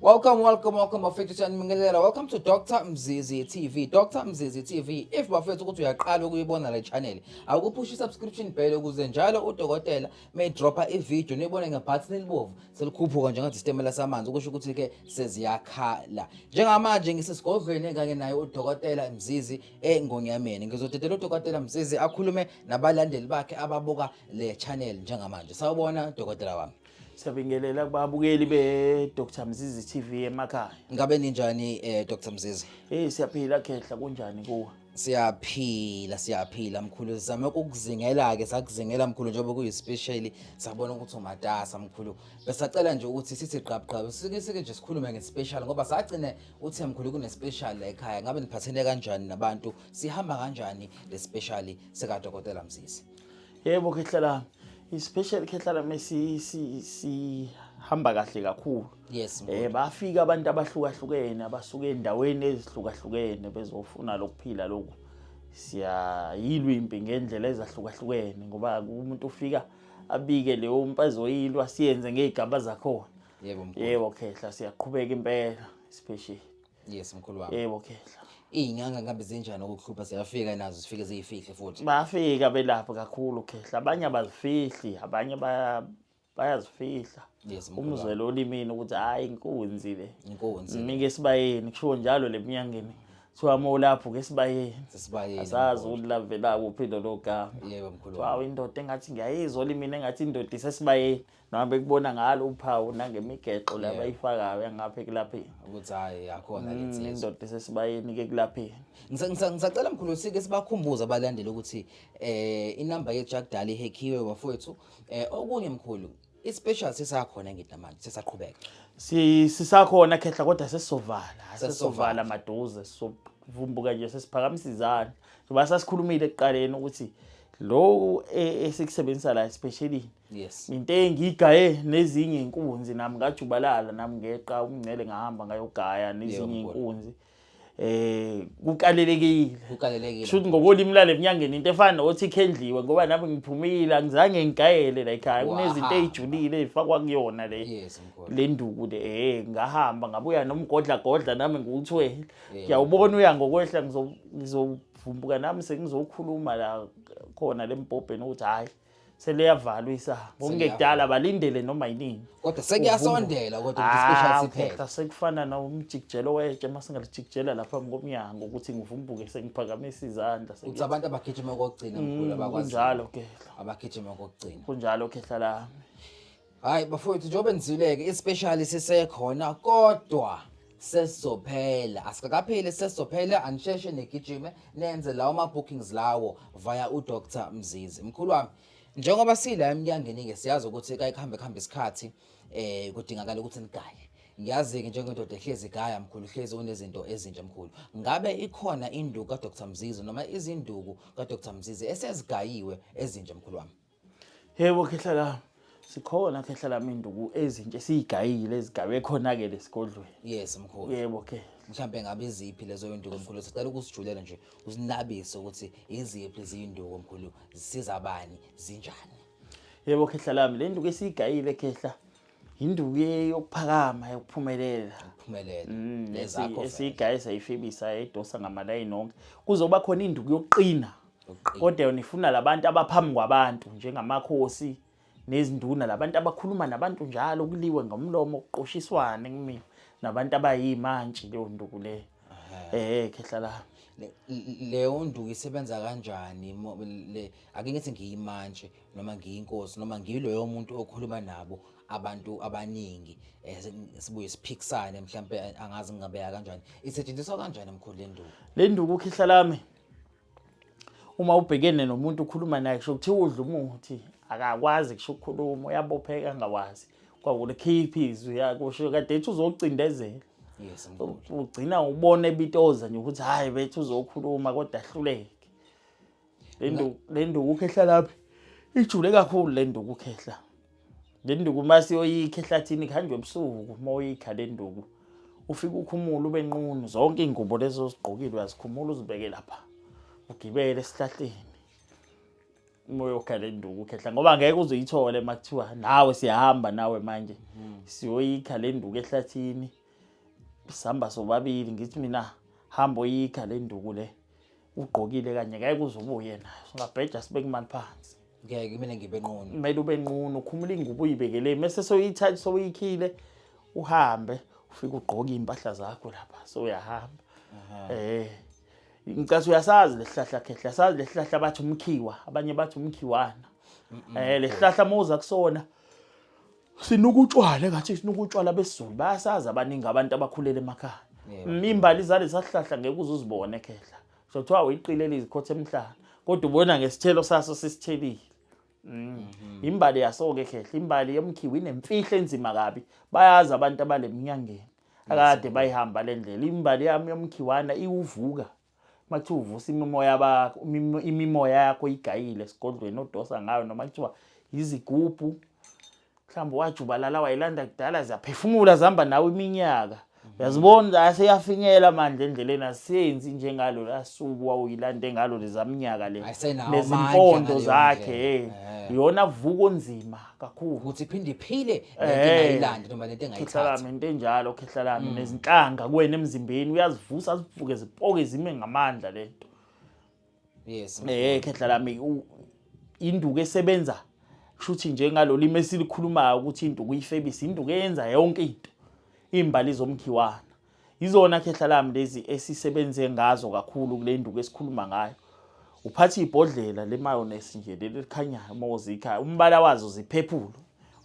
Welcome, welcome, welcome bafethu siyanibingelela. Welcome to Dr Mzizi TV. Dr Mzizi TV. If bafethu ukuthi uyaqala ukuyibona le channel, awukuphushi subscription bell ukuze njalo udokotela may dropper i video nibone ngebutton elibovu selikhuphuka njengathi sitemela samanzi ukusho ukuthi ke seziyakhala. Njengamanje ngisesigodlweni kanye naye udokotela Mzizi engonyameni. Ngizodedela udokotela Mzizi akhulume nabalandeli bakhe ababuka le channel njengamanje. Sawubona dokotela wami. Siyabingelela kubabukeli be Dr Mzizi TV emakhaya. Ngabe ninjani eh Dr Mzizi? Eh siyaphila khehla kunjani kuwe? Siyaphila siyaphila mkhulu sizame ukuzingela ke sakuzingela mkhulu njengoba kuyi special sabona ukuthi umatasa mkhulu besacela nje ukuthi sithi qhab qhab sike sike nje sikhulume nge special ngoba sagcine uthe mkhulu kune special la ekhaya ngabe niphathene kanjani nabantu sihamba kanjani le special sika dokotela Mzizi Yebo khehla lami. Especially khehla lami si si si hamba kahle kakhulu. Yes. Eh bafika abantu abahlukahlukene abasuke endaweni ezihlukahlukene bezofuna lokuphila lokhu. Siyayilwa impi ngendlela ezahlukahlukene ngoba umuntu ufika abike leyo mpa ezoyilwa siyenze ngezigaba zakhona. Yebo mkhulu. Yebo khehla siyaqhubeka impela especially. yes mkhulu wami yebo khehla iy'nyanga ngihambe zinjani ukukuhlupha ziyafika nazo zifike ziyifihle futhi bayafika belapho kakhulu khehla abanye abazifihli abanye baya- bayazifihla yes mkhulu wami. umzwelo olimini ukuthi hhayi inkunzi le inkunzi mike esibayeni kushiwo njalo le mnyangeni kuthiwa uma ulapho ke esibayeni sesibayeni asazi ukuthi lavela kuphi lolo gama yebo mkhulu wami kuthiwa indoda engathi ngiyayizwa olimini engathi indoda isesibayeni noma bekubona ngalo uphawu nangemigexo le abayifakayo yangapha ekulapheni ukuthi hhayi akhona mm, lensiza indoda esesibayeni ke ekulapheni Ngisa- ngisa- ngisacela mkhulu sike sibakhumbuze abalandeli ukuthi eh inamba yejack dali ihekhiwe bafowethu eh okunye mkhulu ispecial sisakhona ngithi namanje sisaqhubeka Si- sisakhona khehla kodwa sesizovala sesizovala maduze sizovumbuka nje sesiphakamisa izandla ngoba sasikhulumile ekuqaleni ukuthi loku e- esikusebenzisa la especially yes into engigaye nezinye inkunzi nami ngajubalala nami ngeqa umngcele ngahamba ngayogaya nezinye inkunzi eh kukalelekile kukalelekile shuthi ngokolimi lale mnyangeni into efana nokuthi ikhendliwe ngoba nami ngiphumile angizange ngigayele la ekhaya kunezinto ezijulile ezifakwa kuyona le le nduku le eh ngahamba ngabuya nomgodla godla nami ngikuthwele ngiyawubona uya ngokwehla ngizovumbuka nami sengizokhuluma la khona lempobheni ukuthi hayi seliyavalwa isaha ngokungekudala balindele noma yinini kodwa sekuyasondela kodwa ukuthi special ah, siphela sekufana nomjikijelo wetshe uma singalijikijela lapha ngomnyango ukuthi ngivumbuke sengiphakamisa izandla ukuthi abantu abagijima kokugcina mkhulu mm, abakwazi kunjalo ke abagijima kokugcina kunjalo ke hlala Hayi bafowethu njengoba nizwile-ke ispeshali sisekhona kodwa sesizophela asikapheli sesizophela anisheshe nigijime nenze lawo ma-bookings lawo via udr mzizi mkhulu wami njengoba sila emnyangeni-ke siyazi ukuthi kayikuhambe kuhambe isikhathi um kudingakala ukuthi nigaye ngiyazi-ke njengendoda ehlezi igaya mkhulu hlezi unezinto ezintsha mkhulu ngabe ikhona induku kadr mzizi noma izinduku kadr mzizi esezigayiwe ezintsha mkhulu wami Yebo khehla lami. Sikhona khehla lami induku ezintshe siyigayile ezigabe khona ke lesigodlweni. Yes mkhulu. Yebo ke. Mhlambe ngabe iziphi lezo induku mkhulu sicela ukusijulela nje usinabise ukuthi iziphi izinduku mkhulu zisiza abani zinjani. Yebo khehla lami le nduku esiyigayile khehla induku yokuphakama yokuphumelela. Ukuphumelela. Mm, Lezakho. Esiyigayisa ifebisa edosa ngamalayini onke. Kuzoba khona induku yokuqina. kodwa nifuna labantu abaphambi kwabantu njengamakhosi nezinduna labantu abakhuluma nabantu njalo kuliwe ngomlomo kuqoshiswane kumina nabantu abayimantshi leyo nduku leyo eh khehla la leyo nduku isebenza kanjani le ake ngithi ngiyimantshi noma ngiyinkosi noma ngiloyo muntu okhuluma nabo abantu abaningi eh, sibuye siphikisane mhlawumbe angazi ngingabeka kanjani isetshenziswa kanjani emkhulu le nduku le nduku khihla lami uma ubhekene nomuntu ukhuluma naye kusho kuthiwa udla umuthi akakwazi kusho ukukhuluma uyabopheka angawazi kwakulikhipha izwi yakusho kade ethi uzocindezela yes ugcina ubona ebitoza nje ukuthi hayi bethu uzokhuluma kodwa ahluleke le nduku le nduku ukhehla lapha ijule kakhulu le nduku ukhehla Le nduku uma siyoyikha ehlathini kuhanjwa ebusuku uma uyikha le nduku ufike ukhumule ube nqunu zonke iy'ngubo lezi ozigqokile uyazikhumula uzibeke lapha ugibele esihlahleni uma uyokha le nduku ukhehla ngoba ngeke uzoyithole uma kuthiwa nawe siyahamba nawe manje siyoyikha le nduku ehlathini sihamba sobabili ngithi mina hamba oyikha le nduku le ugqokile kanye ngeke uze ubuye nayo singabheja sibeke imali phansi ngeke mina ngibe nqunu kumele ube nqunu ukhumula ingubo uyibekele mese soyithatha soyikhile uhambe ufike ugqoke impahla zakho lapha so uyahamba eh ngicase uyasazi lesihlahla khehla sazi lesihlahla bathi umkhiwa abanye bathi umkhiwana eh lesihlahla moza kusona sinuka utshwala engathi sinuka utshwala besizulu bayasazi abaningi abantu abakhulele emakhaya imbali zale sahlahla ngeke uzuzibone khehla so kuthiwa uyiqile lizikhotha emhlana kodwa ubona ngesithelo saso sisithelile mm. mhm. imbali yaso-ke khehla imbali yomkhiwa inemfihlo enzima kabi bayazi abantu abaleminyangeni akade bayihamba le ndlela imbali yami yomkhiwana iwuvuka Mathi uvusa imimoya bakho, imimoya yakho igayile esigodlweni odosa ngayo noma kuthiwa yizigubhu. Mhlawumbe wajubalala wayilanda kudala ziyaphefumula zihamba nawe iminyaka. Uyazibona aseyafinyela manje endleleni asenzi njengalo lasuku wawuyilande ngalo lezaminyaka le. Nezimpondo zakhe hey. Eh. Yona vuko nzima. kakhulu ukuthi iphinde iphile ngayilandi noma lento engayithatha into enjalo khehla lami mm. nezinhlanga kuwena emzimbeni uyazivusa azivuke zipoke zime ngamandla lento yes eh khehla lami induku esebenza kushuthi njengalolu imesilikhulumayo ukuthi induku uyifebisa induku eyenza yonke into imbali zomkhiwana Yizona khehla lami lezi esisebenze ngazo kakhulu kule nduku esikhuluma ngayo. Uphatha ibhodlela lemayonnaise nje leli likhanyayo uma uzikha umbala wazo ziphephulu.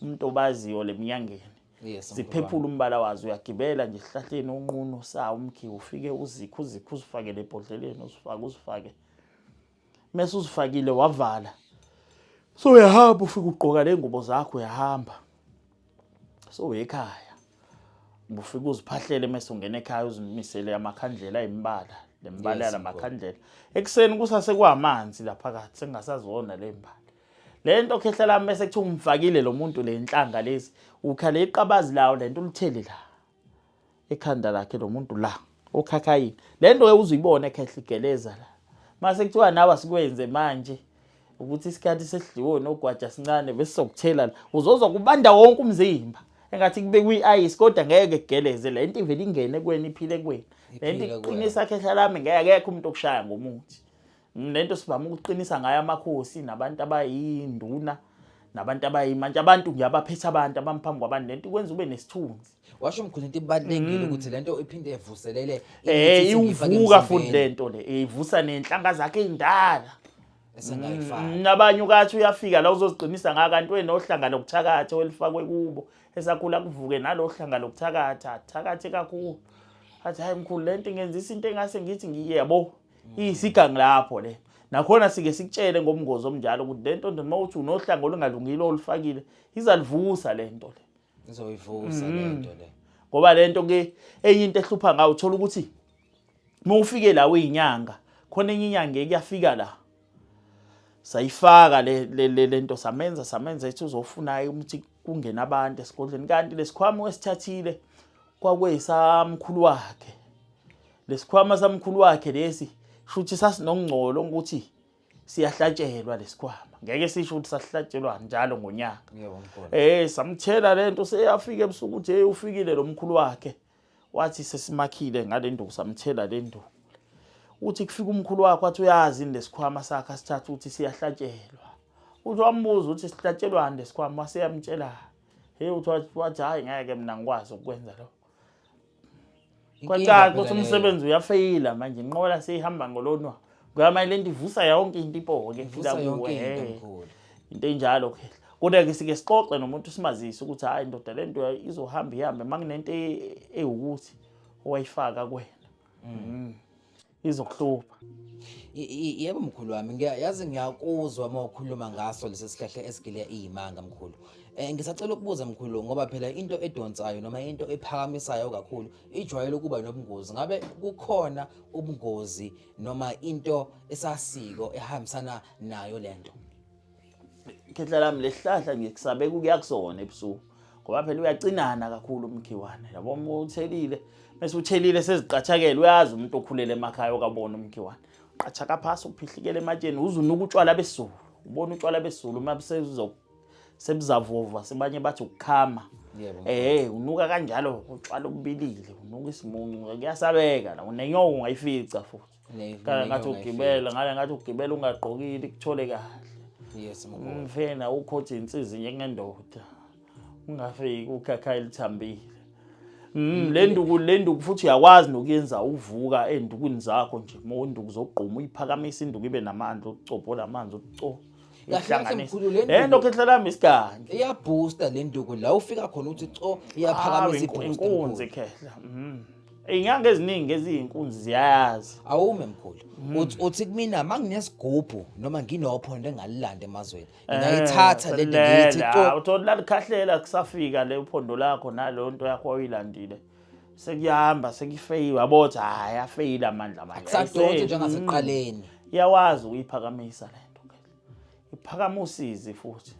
Umuntu obaziyo leminyangeni. Yes. Ziphephula umbala wazo uyagibela nje esihlahleni unqunu sawo umkhiwa ufike uzikhe uzikhe uzifake lebhodleleni uzifake uzifake. mese uzifakile wavala so uyahamba ufike ugqoka ley'ngubo zakho uyahamba so uyekhaya ufike uziphahlele mese ungena ekhaya uzimisele amakhandlela ayimbala le mbala yala makhandlela ekuseni kusase kwamanzi la phakathi sengasazona le mbala le nto khehla lami bese kuthiwa umfakile lo muntu le nhlanga lezi ukhale iqabazi lawo le nto ulitheli la ekhanda lakhe lo muntu la okhakhayini le nto uzuyibona ekhehla igeleza la mase kuthiwa nawe asikwenze manje ukuthi isikhathi sesidliwo nogwaja sincane bese sokuthela la uzozwa kubanda wonke umzimba engathi kube kwi-ice kodwa ngeke kugeleze le nto ivele ingene kuwena iphile kuwena le nto iqinisa khehla lami ngeke akekho umuntu okushaya ngomuthi Lento sivama ukuqinisa ngayo amakhosi nabantu abayinduna nabantu abayimanje abantu nje abaphethe abantu abamuphambi kwabantu lento ikwenza ube nesithunzi washo mkhulu into ibalulekile mm. ukuthi lento iphinde evuselele eh iwuvuka futhi lento le ivusa nenhlanga zakhe indala esingayifaka mm, nabanye ukathi uyafika la uzoziqinisa ngaka kanti wenohlanga lokuthakatha welifakwe kubo esakhula kuvuke nalohlanga lokuthakatha thakathe kakhulu athi hayi mkhulu lento ngenzisa into engase ngithi ngiyebo iyisigangi lapho le nakhona sike sikutshele ngomngozi omnjalo ukuthi le nto nje uma uthi unohlanga olungalungile olufakile izalivusa le nto le izoyivusa le nto le ngoba le nto ke enye into ehlupha ngayo uthola ukuthi uma ufike la uyinyanga khona enye inyanga ekuyafika la sayifaka le le le nto samenza samenza ethi uzofuna ukuthi kungena abantu esigodlweni kanti lesikhwama wesithathile kwakuyisamkhulu wakhe lesikhwama samkhulu wakhe lesi shuthi sasinongcolo ukuthi siyahlatshelwa lesikhwama ngeke sisho ukuthi sahlatshelwa njalo ngonyaka eh samthela lento seyafika ebusuku ukuthi hey ufikile lo mkhulu wakhe wathi sesimakhile ngalenduku samthela lenduku uthi kufika umkhulu wakho wathi uyazi lesikhwama sakhe asithatha ukuthi siyahlatshelwa uthi wambuza ukuthi sihlatshelwani lesikhwama waseyamtshela Hey uthi wathi hayi ngeke mina ngikwazi ukwenza lokho. Kwacaca ukuthi umsebenzi uyafeyila manje inqola seyihamba ngolonwa. Kuyamanje lento ivusa yonke into ipoke ifika kuwe. Into enjalo ke. Kodwa ke sike sixoxe nomuntu simazise ukuthi hayi ndoda lento izohamba ihambe makunento ewukuthi owayifaka kuwena. Mm. izokuhlupha yebo mkhulu wami ngiyazi ngiyakuzwa uma ukhuluma ngaso lesi sihlahla esigile iyimanga mkhulu um ngisacela ukubuza mkhulu ngoba phela into edonsayo noma into ephakamisayo kakhulu ijwayele ukuba nobungozi ngabe kukhona ubungozi noma into esasiko ehambisana nayo le nto khehla lami lesihlahla ngikusabeka ukuya kusona ebusuku ngoba phela uyacinana kakhulu umkhiwane yabo uma uthelile bese uthelile seziqathakele uyazi umuntu okhulele emakhaya okabona umkhiwane uqathaka phasi uphihlikele ematsheni uzunuka utshwala besulu ubona utshwala besulu uma sebuzavova sebanye bathi ukukhama eh unuka kanjalo utshwala obubilile unuka isimuncu kuyasabeka la unenyoka ungayifica futhi khala ngathi ugibela ngale ngathi ugibela ungagqokile kuthole kahle yes mfena ukhotha insizi njengendoda ungafiki ukhakha elithambile Mm le nduku le nduku futhi uyakwazi nokuyenza uvuka endukweni zakho nje uma unduku zogquma uyiphakamisa induku ibe namandla ukucopola amanzi ukucopola lento khetha lami isiganje iyaboosta le nduku la ufika khona uthi co iyaphakamisa iboosta inkunzi khehla mm. Inyanga eziningi eziyinkunzi ziyayazi. Awume mkhulu. Hmm. Uthi uthi kumina manginesigubhu noma nginophondo engalilanda emazweni. Eh, Ngayithatha le ngithi to. Uthola lalikhahlela kusafika le uphondo lakho nalo nto yakho oyilandile. Sekuyahamba sekufeyiwe abothi hayi afeyile amandla manje. Akusadonsi njengasiqaleni. Hmm. Iyawazi uyiphakamisa le. iphakama usizi futhi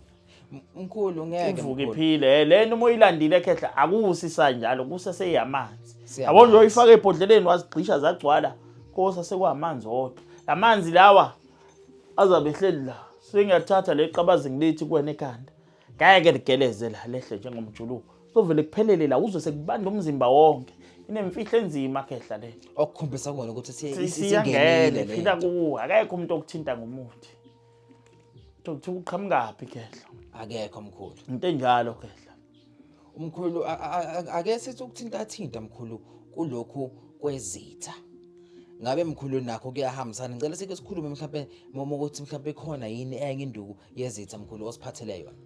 mkhulu ngeke ivuke iphile eh, lento uma uyilandile ekhehla akusisa njalo kuseseyamanzi yabo nje uyifaka ebhodleleni wazigxisha zagcwala kosa sekwamanzi odwa lamanzi lawa azabe ehleli la sengiyathatha le qabazi ngilithi kuwena ekhanda ngeke ligeleze la lehle njengomjuluko sovele kuphelele la uzwe sekubanda umzimba wonke inemfihlo enzima khehla le okukhombisa kona ukuthi siyangene phila kuwo akekho umuntu okuthinta ngomuthi ukuthi uqhamukaphi khehla akekho mkhulu into enjalo khehla Mkhulu ake sithi ukuthinta thinta mkhulu kulokhu kwezitha. Ngabe mkhulu nakho kuyahambisana. Ngicela sike sikhulume mhlawumbe mama ukuthi mhlawumbe ikhona yini enye induku yezitha mkhulu osiphathele yona.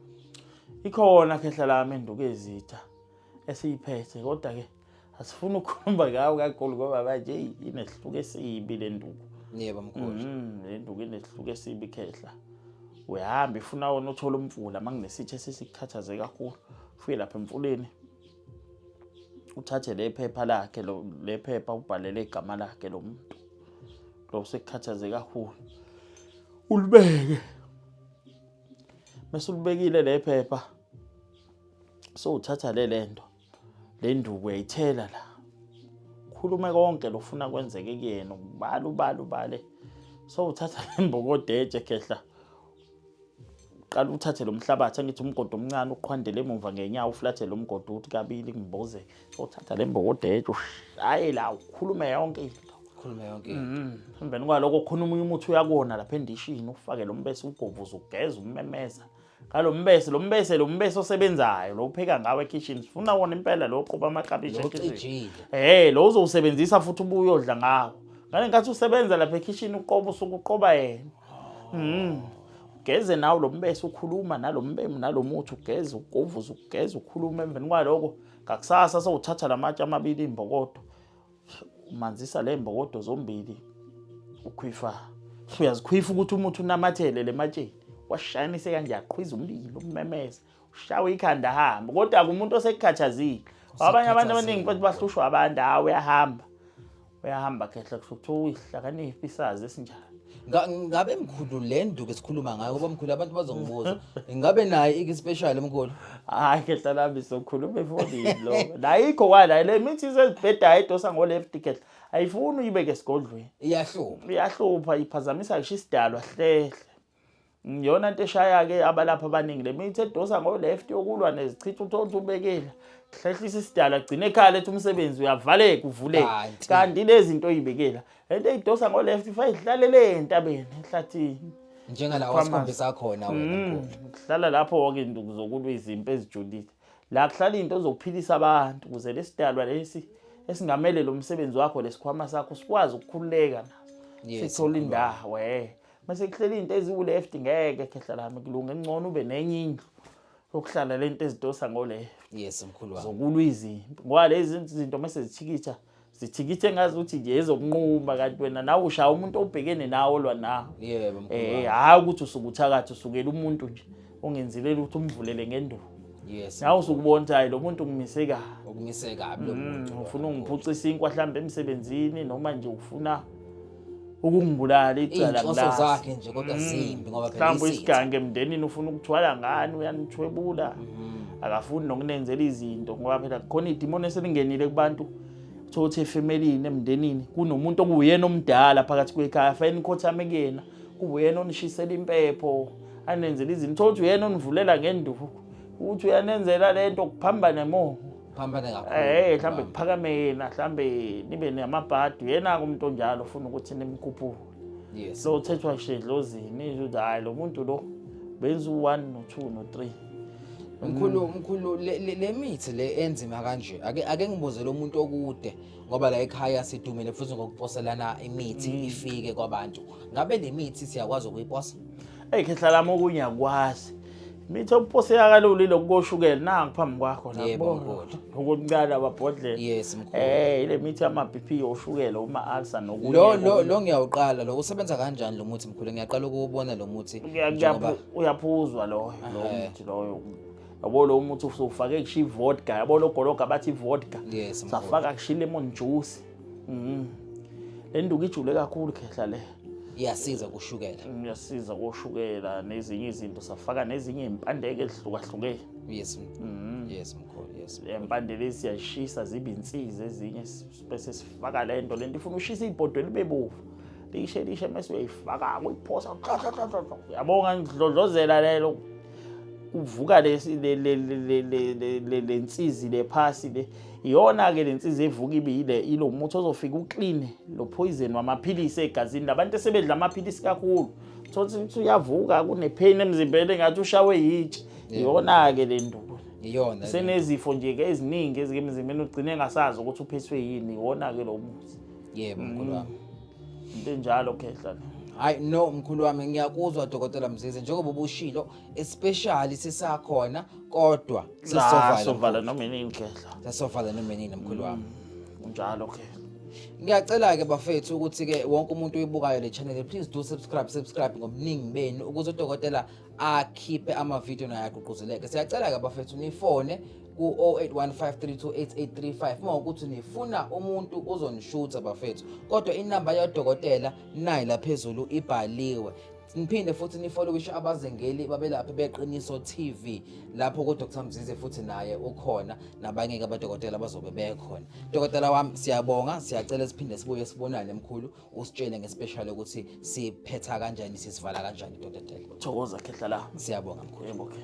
Ikhona khehla lami induku yezitha esiyiphethe kodwa ke asifuna ukukhuluma ngawo kakhulu ngoba manje eyi inesihluko esibi le nduku yebo mkhulu mm, le nduku inesihluko esibi khehla uyahamba ifuna wona uthole umfula uma nginesithe sesikukhathaze kakhulu ufike lapha emfuleni uthathe le phepha lakhe le phepha ubhalele igama lakhe lo muntu lo usekukhathaze kakhulu ulibeke mase ulibekile le phepha so uthatha le lento le nduku uyayithela la khulume konke lofuna kwenzeke kuyena ubala ubala ubale so uthatha lembokodeje khehla qala uthathe lomhlabathi angithi umgodo omncane uqhwandele emuva ngenyawo uflathe lomgodo uthi kabili ngimboze so uthatha lembokodeje ushaye la ukhulume yonke into khulume yonke into mm-hmm. emveni kwaloko khona umunye umuthi uyakona lapha endishini ufake lombese ugovuza ugeza umemeza ngalo mbese lo mbese lo mbese osebenzayo lo upheka ngawo ekitchen sifuna wona impela lo qoba amaklabishi ekitchen eh lo uzowusebenzisa futhi ubuye odla ngawo ngale nkathi usebenza lapha ekitchen uqoba usuku uqoba yena mhm geze nawo lo mbese ukhuluma nalo mbemu nalo muthi ugeze ugovuza ugeze ukhuluma emveni kwaloko ngakusasa sowuthatha lamatshe amabili imbokodo umanzisa le mbokodo zombili ukhwifa uyazikhwifa ukuthi umuthi unamathele le matsheni washayanise kanje aqhwiza umlilo umemeze ushawe ikhanda ahambe kodwa kumuntu osekukhathazile abanye abantu abaningi futhi bahlushwa abantu hawu uyahamba uyahamba khehla kusho ukuthi uyihlakaniphi isazi esinjani Nga- ngabe mkhulu le nduku esikhuluma ngayo ngoba mkhulu abantu bazongibuza ngabe naye ikispecial mkhulu hayi khehla lami sokhuluma efonini lo nayikho wala le mithi isezibhedayo edosa ngo-left khehla ayifuni uyibeke esigodlweni iyahlupha iyahlupha iphazamisa ngisho isidalwa hlehle Ngiyona nto eshaya-ke abalapha abaningi le mithi edosa ngo-left yokulwa nezichitha uthola ukuthi ubekile hlehlisa isidala gcine ekhaya lethu umsebenzi uyavaleka uvuleke kanti lezi zinto oyibekela le nto eyidosa ngo-left ifa idlalele entabeni ehlathini njengala wasikhombisa khona wena mm, kuhlala lapho wonke into kuzokulwa izimpi ezijulile la kuhlala into ozokuphilisa abantu ukuze lesidalwa lesi esingamele lo msebenzi wakho lesikhwama sakho sikwazi ukukhululeka na sithole indawo eh Mase kuhleli into eziwu left ngeke khehla lami kulunga engcono ube nenye indlu yokuhlala lento ezidosa ngo left. Yes mkhulu wami. Zokulwa izimpi. Ngoba lezi zinto mase zithikitha zithikithe ngazi ukuthi nje ezokunquma kanti wena nawe ushaya umuntu obhekene nawo lwa nawo. Yebo mkhulu. Eh hayi ukuthi usukuthakathi usukela umuntu nje. ungenzile lutho umvulele ngenduku yes nawe usukubona ukuthi hayi lo muntu ungimise kabi ukumise kabi lo muntu ufuna ungiphucisa inkwa mhlawumbe emsebenzini noma nje ufuna ukungibulala icala Inhloso kulasi zakhe nje kodwa zimbi ngoba phela mhlawumbe isitha. isigange emndenini ufuna ukuthwala ngani uyanithwebula akafuni nokunenzela izinto ngoba phela khona idimoni eselingenile kubantu uthola ukuthi efemelini emndenini kunomuntu okuwuyena omdala phakathi kwekhaya afanele nikhothame kuyena Uyena onishisela impepho anenzela izinto thothi uyena onivulela ngenduku ukuthi uyanenzela le nto kuphambane mo phambane kakhulu eh mhlambe kuphakame yena mhlambe nibe namabhadi yena umuntu onjalo ufuna ukuthi nimkhuphule yes so uthethwa nje dlozini ukuthi hayi lo muntu lo benza u1 no2 no3 mkhulu mkhulu le mithi le enzima kanje ake ake ngibuze lo muntu okude ngoba la ekhaya sidumile futhi ngokuposelana imithi mm. ifike kwabantu ngabe le mithi siyakwazi ukuyiposa eyi khehla lami okunye akwazi mithi okuposeka kalula ilokhu koshukela nangu phambi kwakho nokuncane ababhodlela yes mkhulu eh ile mithi yama BP yoshukela uma alsa nokunye lo lo lo ngiyawuqala lo usebenza kanjani lo muthi mkhulu ngiyaqala ukuwubona lo muthi uyaphuzwa loyo lo muthi loyo yabo lo muthi usufake kusho ivodka yabo lo gologa bathi ivodka yes, safaka kusho lemon juice mm. le nduku ijule kakhulu khehla le iyasiza kushukela mm, iyasiza koshukela nezinye izinto safaka nezinye impandeke ezihlukahlukene yes mm. yes mkhulu yes impande lezi siyashisa zibe insiza ezinye bese sifaka le nto le nto ifuna ushisa ibhodo libe bovu lishe lishe mase uyayifaka uyiphosa yabonga ngidlodlozela lelo kuvuka le nsizi le phasi le iyona-ke le nsizi evuka ibe yile ilo muthi ozofika ukline lo phoyizeni wamaphilisi egazini labantu esebedla amaphilisi kakhulu thothi ukuthi uyavuka kunepheyini emzimbeni engathi ushawe yitshe iyona-ke le nduku iyona senezifo nje-ke eziningi ezike emzimbeni ugcine engasazi ukuthi uphethwe yini iwona-ke lo muthi yebo mkhulu wami mm. into enjalo khehla hayi no mkhulu wami ngiyakuzwa dokotela mzize njengoba ubushilo especially sisakhona kodwa sisovala noma inini khehla sisovala noma inini mkhulu wami mm. unjalo khehla ngiyacela-ke bafethu ukuthi-ke wonke umuntu oyibukayo le channel please do subscribe subscribe ngobuningi benu ukuze udokotela akhiphe amavidiyo naye agqugquzeleke siyacela-ke bafethu nifone ku-0815328835 uma ukuthi nifuna umuntu uzonishutha bafethu kodwa inamba yodokotela nayi laphezulu ibhaliwe niphinde futhi nifollowishe abazengeli babelaphi beqiniso TV lapho ku Dr Mzize futhi naye ukhona nabanye ke abadokotela bazobe bekhona dokotela wami siyabonga siyacela siphinde sibuye sibonane mkhulu usitshele ngespecial ukuthi siphetha kanjani sisivala kanjani dokotela thokoza khehla la siyabonga mkhulu okay